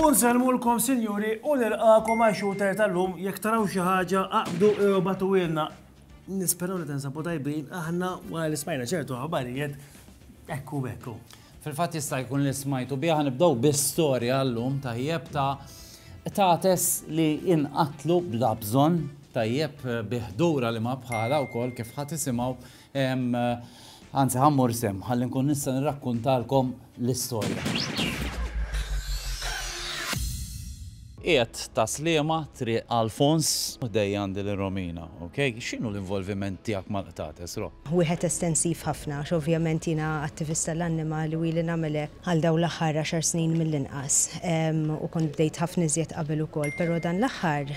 Unselmulkom sinjuri u nilqakom għal shooter tal-lum jekk taraw xi ħaġa aqdu batu ilna. Nisperaw li tensabu tajbin aħna wara l-ismajna ċertu ħabarijiet ekku bekku. Fil-fatt jista' jkun li smajtu biha nibdew bi storja llum tajjeb ta' tates li inqatlu bla bżonn tajjeb bi ħdura li ma bħala wkoll kif ħadd isimgħu anzi ħammur sem ħalli nkun nista' nirrakkuntalkom l-istorja. Qiegħed ta' Sliema, Triq Alfons. Ħdejja għandi lil Romina, ok? X'inhu l-involviment tiegħek mal-qtates, Ro? Wieħed estensiv ħafna għax ovvjament jiena attivist tal-annimali u ili nagħmel hekk għal dawn l-aħħar għaxar snin mill-inqas u kont bdejt ħafna iżjed qabel ukoll però dan l-aħħar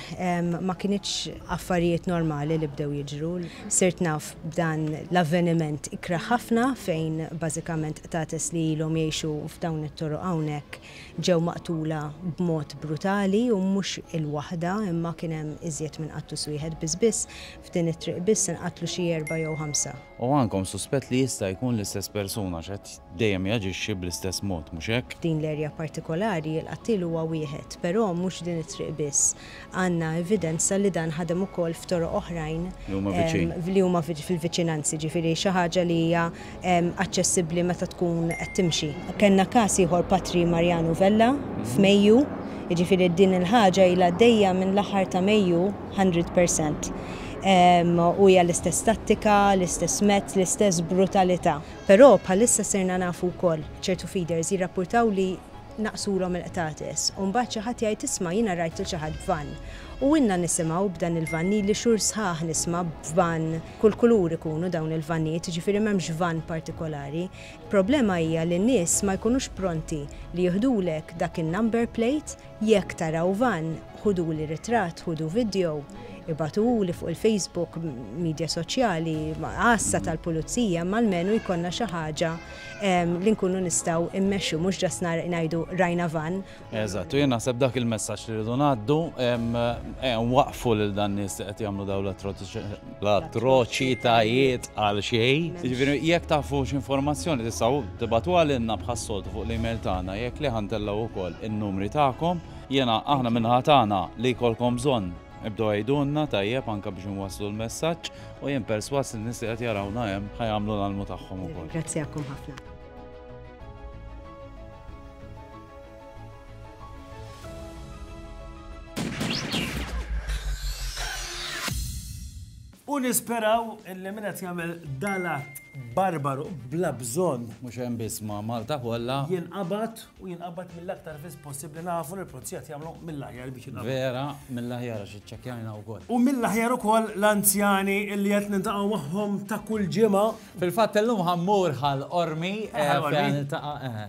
ma kinitx affarijiet normali li bdew jiġru. Sirt naf b'dan l-avveniment ikrah ħafna fejn bażikament qtates li ilhom jgħixu f'dawn it-toroq hawnhekk Ġew maqtula b'mod brutali u mhux il-waħda imma kien hemm iżjed minn qattus wieħed biss biss f'din it-triq biss inqatlu xi erbgħa jew ħamsa. U għandkom suspett li jista' jkun l-istess persuna għax qed dejjem jaġixxi bl-istess mod, mhux hekk? F'din l-erja partikolari l-qattiel huwa wieħed, però mhux din it-triq biss. għandna evidenza li dan ħadem ukoll f'toroq oħrajn li huma fil-viċinanzi, jiġifieri xi ħaġa li hija aċċessibbli meta tkun qed timxi. Kellna każ ieħor Patri Marjanu Vella f'Mejju, jiġifieri din il-ħaġa ilha għaddejja minn l-aħħar ta' Mejju hundred per cent. U hija l-istess tattika, l-istess mezz, l-istess brutalità. Però bħalissa sirna nafu wkoll, ċertu feeders jirrappurtaw li, naqqsulhom il-qtates u mbagħad xi ħadd jgħid isma' jiena rajt lil xi ħadd b'vann. U ilna nisimgħu b'dan il-vann, ili xhur sħaħ nisma' b'vann, kull kulur ikunu dawn il-vannijiet, jiġifieri m'hemmx vann partikolari. Il-problema hija li n-nies ma jkunux pronti li jiħdulek dak in-number plate, jekk taraw vann ħuduli ritratt, ħudu video, ibagħtuhuli fuq il-Facebook, midja soċjali, għassa tal-pulizija, imma almenu jkollna xi ħaġa li nkunu nistgħu immexxu mhux ġast ngħidu rajna van. Eżatt, u jien naħseb dak il-messaġġ li rridu ngħaddu waqfu lil dan nies li qed jagħmlu dawn l-atroċitajiet għal xejn. Jiġifieri jekk tafu x'informazzjoni tistgħu tibgħatu għalina bħas-soltu fuq l-email tagħna jekk le ħa ntellgħu wkoll in-numri tagħkom. Jiena aħna min-naħa tagħna li jkollkom bżonn Ibdew għidulna tajjeb anke biex inwasslu l-messaġġ u jien perswas li n-nies li qed jarawna hemm ħa jagħmlu l-almu tagħhom ukoll. Nirringrazzjakom ħafna. U nisperaw illi min qed jagħmel dal-att barbaru bla bżonn. Mhux hemm biss ma' Malta kollha. Jinqabad u jinqabad mill-aktar fis possibbli nafu li l-pulizija qed jagħmlu mill-aħjar biex jinqabad. Vera, mill-aħjar għax iċċekkjajna wkoll. U mill-aħjar ukoll l-anzjani illi qed niltaqgħu magħhom ta' kull ġimgħa. Fil-fatt illum ħa mmur Ħal Qormi fejn ħa niltaqa' eħe.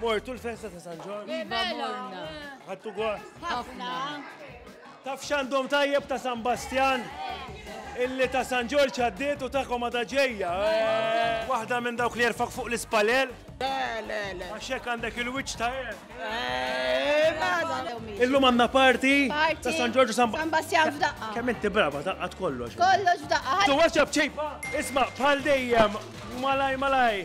Mortu l-festa ta' San Ġorġ. Iva, iva morna. Ħattu gost. Ħafna. Taf xandom tajjeb ta' San Bastjan? Illi ta' San Ġorġ għaddiet u ta' komada ġejja. Eh. Waħda minn dawk li jerfak fuq l-ispalel? Le, le, le. Għaxek għandek il-wiċ ta' Illum għanna parti ta' San Ġorġu San Bastian f'daqqa. Kemm inti brava daqqa kollox. Kollox f'daqqa. Tu għaxab ċejba. Isma' bħal dejjem malaj malaj.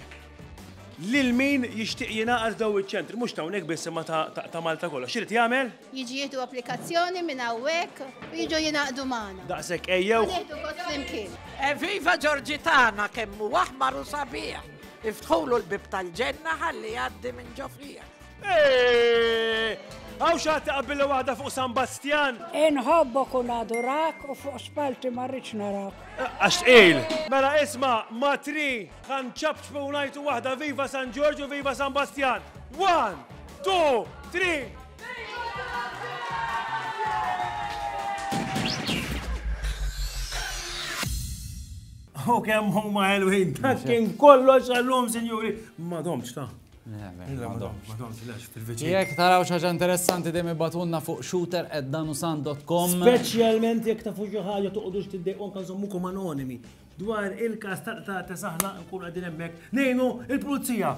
Lil min jixtieq jingħaqad daw iċ-ċentri, mhux ta' hawnhekk biss imma ta' Malta kollha. X'irid jagħmel? Jiġi jieħdu applikazzjoni minn hawnhekk u jiġu jingħaqdu magħna. Daqshekk ejjew. Nieħdu kos flimkien. Eviva Ġorġi tagħna kemm hu aħmar u sabiħ. Iftħulu l-bib tal-ġenna ħalli jgħaddi minn ġofrija. Għaw xaħti qabbilli waħda fuq San Bastjan? Inħobbo kun adurak u fuq spalti marriċ narak. Għax il. Mela isma, matri, għan ċabċbu unajtu waħda viva San Ġorġu, viva San Bastjan. One, two, three. U kemm huma ħelwin, dak kien kollox għallum, sinjuri. Ma domx ta' Jek taraw xaġa interessanti dejjem ibatunna fuq shooter at danusan.com. Speċjalment jekk ta' fuq ħaġa toqgħodux tiddejqhom kan żommukom anonimi dwar il-kas ta' ta' saħna nkun għadin hemmhekk nejnu il-pulizija.